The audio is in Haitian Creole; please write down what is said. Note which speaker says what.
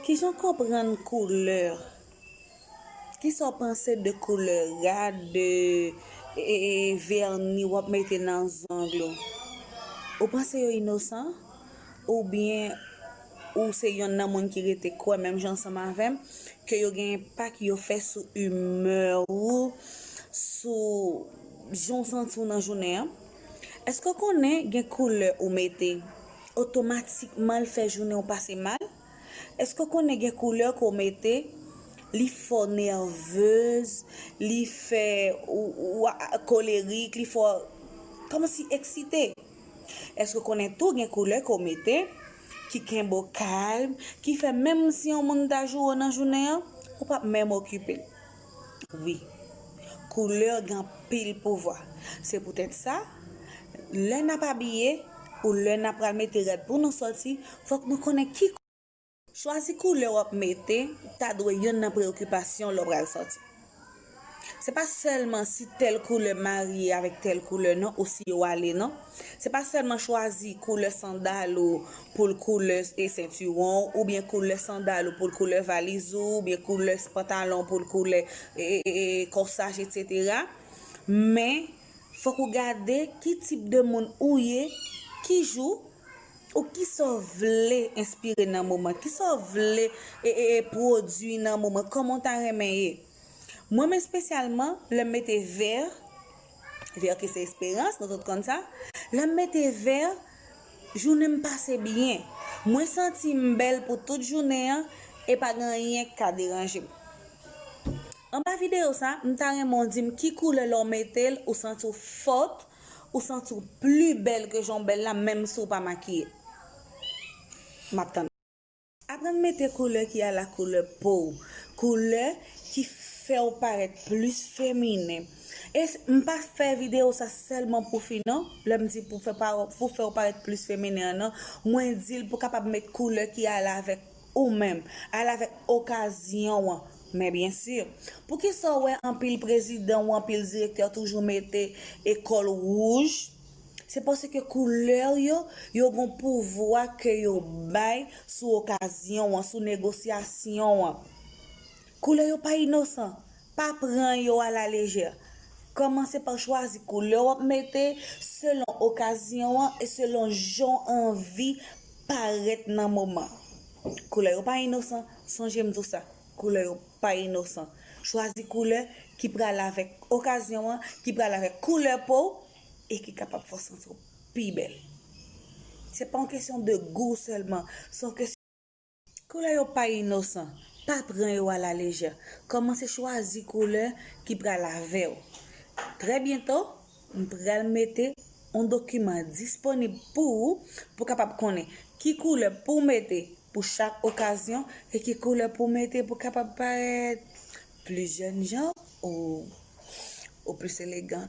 Speaker 1: Kijan w konprann koulè? Kisa w panse de koulè rad, de vèni w ap mete nan zong ou? Ou panse yo inosan? Oubyen ou se yonn nan moun ki rete kwè menm jan ansanm avè m ke yo gen enpak yo fè sou imè ou, sou jan w santi w nan jounen an? Èske w konnen gen koulè ou mete? otomatikman l fè jounen w pase mal? Èske w konnen gen koulè ke w mete li fè w nèvez, li fè w kolerik, li fè w kòmanse eksite? Èske w konnen tou gen koulè ke w mete ki kenbe w kalm, ki fè menm si yon moun ta joure w nan jounen an, ou p ap menm okipe l? Wi. Koulè gen anpil pouvwa. Se poutèt sa, lè n ap abiye ou lè n ap pral mete rad pou nou sòti, fòk nou konnen ki. Chwazi koulè w ap mete ta dwe youn nan preyokipasyon w lè w pral sòti. Se pa sèlman si tèl koulè marye avèk tèl koulè non ou si yo ale non. Se pa sèlman chwazi koulè sandal ou pou l koulè sentiwon w oubyen koulè sandal ou pou l koulè valiz ou oubyen koulè pantalon pou l koulè kòsaj etc men fòk ou gade ki tip de moun ou ye ki jou ou kisa w vle enspire nan moman kisa w vle pwodui nan moman kòman w ta renmen ye mwen men spesyalman lè m mete vè. Ver ki se esperans nou tout konn sa lèm mete ver jounenm pase byen mwen santim bèl pou tout jounen an e pa gen anyen ki ka deranjem anba video sa mta renmen w dim ki koulè lèw metel ou santiw fort ou santiw pli bèl ke janw bèl la menm si w pa makiye map tann. Aprann mete koulè ki a la koulè po w, koulè ki fè w parèt plis feminen. E m pa fè videyo sa sèlman pou fi non, lè m di pou fè w parèt plis feminen an non, mwen di l pou kapab met koulè ki ale avèk ou menm, ale avèk okazyon an. Men byen si, poukisa w wè anpil prezidan ou anpil direktè toujou mete kòl wouj? Se paske koulè yo, yo gon pouvwa ke yo bay sou okazyon an, sou negosyasyon an. Koulè yo pa inosan, pa pran yo a la lejè. Kòmanse pa chwazi koulè wap mete selon okazyon an e selon jan w anvi parèt nan moman. Koulè yo pa inosan, sonje m di w sa. Koulè yo pa inosan. Chwazi koulè ki prale avèk okazyon an, ki prale avèk koulè po w e ki kapab fè w santi w pi bèl. Se pa yon kesyon de gou sèlman, se yon kesyon. Koulè yo pa inosan. Pa pran yo a la lejè. Kòmanse chwazi koulè ki prale avè w. Trè byento. M pral mete on dokiman disponib pou ou pou kapab konnen ki koulè pou mete pou chak okazyon e ki koulè pou mete pou kapab parèt pli jènjan ou plis elegan.